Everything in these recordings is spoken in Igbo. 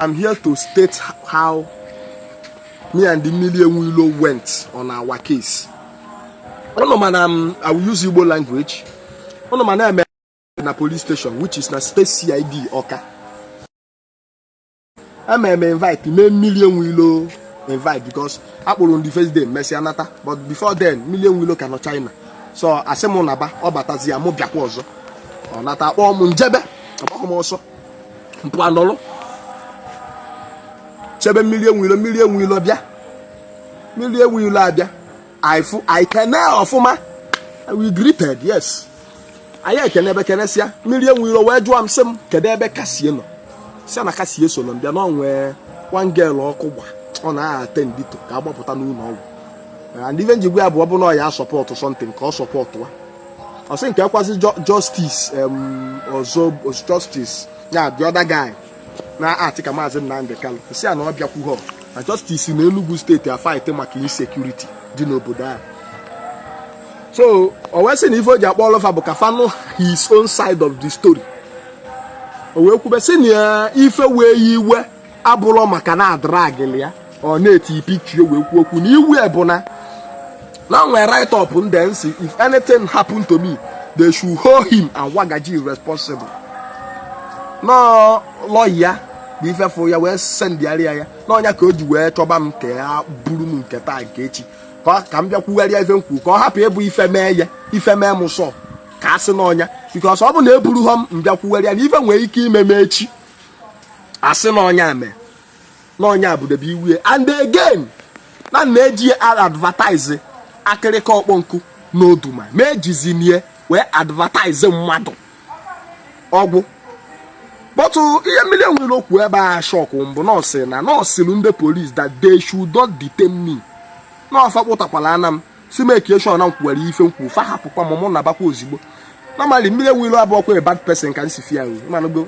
I'm here to state how me and the Mmiri Enwe Ilo went on our case. Unu ma na um, I will use Igbo language. Unu ma na-eme na police station which is na state CID Ọka. E mee m invite mee Mmiri Enwe Ilo invite because a kpọrọ m the first day mesịa nata but before then Mmiri Enwe Ilo ka nọ China so a sị m naba ọ batazịa mụ bịakwa ọzọ ọ nata a kpọọ m m jebe agbaghọ m ọsọ m pụa nọlụ chebe mmiri enwe ilo mmiri enwe ilo bịa mmiri enwe ilo abịa anyị fụ anyị kene ọfụma we greeted yes anyị ekenebe kenesịa mmiri enwe ilo wee jụọ m sị m kedu ebe kasie nọ si na kasie so nọ mbịa na o nwee one girl ọkụ gba ọ na-attend to ka agbapụta n'ụlọ ọgwụ and ife m ji gwa ya bụ ọ bụ na ọ ya-support something ka ọ support wa ọ sị kee kwazị justice ọzọ justice ya the other guy na-act ka maazị Nnamdi Kanu sị ya na ọ bịakwughọ na justice na Enugu state afight maka insecurity dị n'obodo ahụ so o wee sị na ife o ji akpọ all of fa bụ ka fa nụ his own side of the story o wee kwube sị na ife wee ya iwe abụrọ maka na a dragịlị ya or na e tii picture wee kwuo okwu na iwe ya bụ na na o nwere write up m dee m sị if anything happen to me they should hold him and wagaji responsible na ọ lawyer ya bụ ifefụ ya wee sendịgharịa ya na ọ nya ka o ji wee chọba m ka ya buru m nke taa nke echi ka m bịa kwugharịa ife m kwuru ka ọ hapụ ịbụ ife mee ya ife mee m so ka a sị na ọ nya because ọ bụ na eburughọ m m bịa kwugharịa na ife nwere ike ime m echi a sị na ọ nya mee na ọ nya bụdebe iwe ya and again na na e ji ya advertise akịrịka ọkpọ nkụ na oduma ma e jizi nya wee advertise mmadụ ọgwụ but ihe Mmiri Enwe Ilo kwu ebe a shock m bụ na ọ sị na na ọ sịlụ ndị polis that they should not detain me na ọ fa kpọtakwala ana m sị make sure na m kwuwara ife m kwu fa hapụkwa m mụ nabakwa ozigbo normally Mmiri Enwe Ilo abụọkwa bad person ka m si fụ ya nri mana go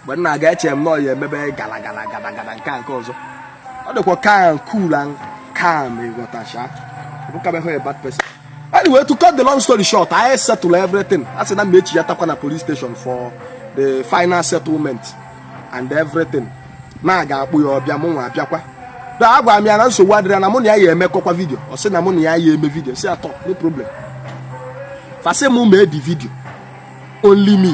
mgbe m na-aga eche m na ọ ya-emebe gala gala gala gala nke a nke ọzọ ọ dịkwa calm cool and calm ịghọtacha abụkwaghị a bad person anyway to cut the long story short I settle everything a sị na m echi ya takwa na police station for the final settlement and everything na a ga-akpọ ya ọ bịa mụ nwa abịakwa da agwa m ya na nsogbu adịrọ na mụ na ya ya emekọkwa video ọ sị na mụ na ya ya eme video si atọ no problem fa sị m mee the video only me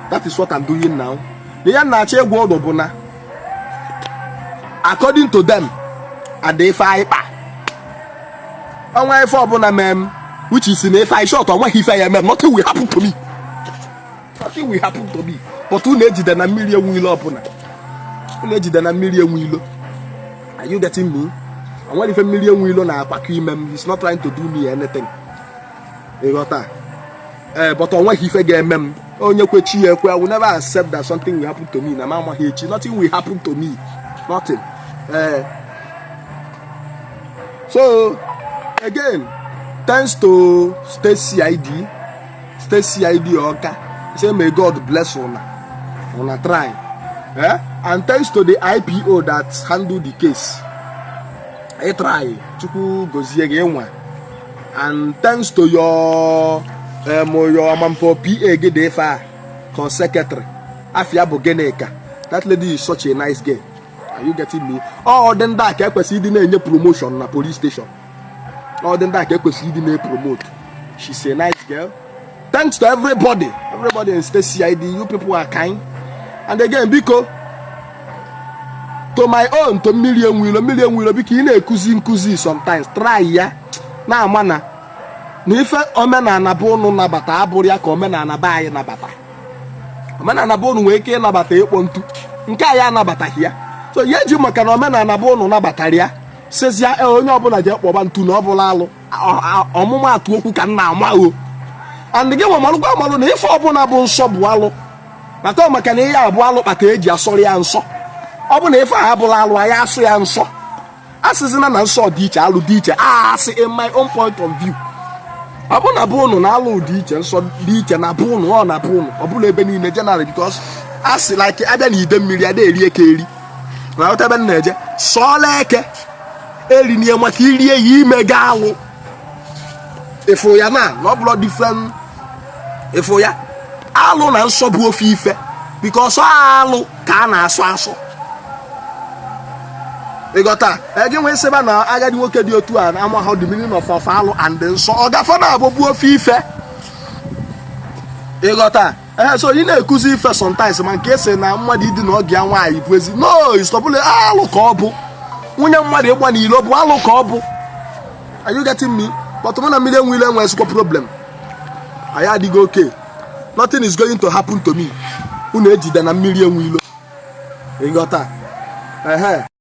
that is what I'm doing now na ya na-achọ ịgwa unu bụ na according to them and ife anyị kpa o nwee ife ọbụla mee m which is na ife anyị sure o nweghị ife ya eme m nothing will happen to me nothing will happen to me but unu ejidena mmiri enwe ilo ọbụla unu ejidena mmiri enwe ilo are you getting me onwerọ ife mmiri enwe ilo na-akwakọ ime m he's not trying to do me anything ịghọta ee eh, but onweghị ife ga-eme m onye kwe chi ya ekwe I will never accept that something will happen to me na m amaghị echi nothing will happen to me nothing ee eh. so again thanks to State CID state cid ọka say may god bless una una try eh? and thanks to the ipo that handle the case ị try chukwu gozie gị nwa and thanks to your um, your ama m ọ pa gị dị ife a ka secretary afa ya bụ ginika that lady is such a nice girl are you getting me ọ dị ndị a ka ekwesịrị ịdị na-enye promotion na police station ọ dị ndị a ka ekwesịrị ịdị na-epromote she's a nice girl thanks to everybody everybody in state cid you people are kind and again biko to my own to mmiri enwe ilo mmiri enwe ilo biko ị na-ekuzi nkuzi sometimes try ya na-ama na na ife omenala be ụnụ nabata abụrọ ya ka omenala be anyị nabata omenala bụ ụnụ nwere ike ịnabata ịkpọ ntu nke anyị anabataghị ya so ị ya-eji maka na omenala be ụnụ nabatara ya sịzịa e, onye ọbụla je kpọba ntu na ọ bụrọ alụ ọmụmaatụ okwu ka m na-ama o and gị nwa malụkwa amalụ na ife ọbụla bụ nsọ bụ alụ maka maka na ihe a bụ alụ kpata eji asọrọ ya nsọ ọ bụ na ife a abụrọ alụ a ya-asọ ya nsọ asịzina na nsọ dị iche alụ dị iche as in my own point of view ọ bụ na be ụnụ na alụ dị iche nsọ dị iche na be ụnụ ọ na be ụnụ ọ bụrọ ebe niile generally because as in like abịa na idemmiri ada eri eke eri na-aghọta ebe m na-eje sọọlụ eke erina ya maka irie ya i mego alụ ịfụ ya na na ọ bụrọ different ịfụ ya alụ na nsọ bụ ofu ife because alụ ka a na-asọ asọ ịghọta gị nwee sịba na agadi nwoke dị otu a na amaha the meaning of of alụ and nsọ ọ gafe naabọ bụ ofu ife ịghọta ee so ị na-ekuzi ife sometimes ma nke ị sị na mmadụ idina ọgọ ya nwaanyị bụ ezi no is taboo alụ ka ọ bụ nwunye mmadụ ịgba n'ilo bụ alụ ka ọ bụ are you getting me but mụ na mmiri enwe ilo enwezikwa problem anyị adịgo okay nothing is going to happen to me unu ejidena mmiri enwe ilo ịghọta ehe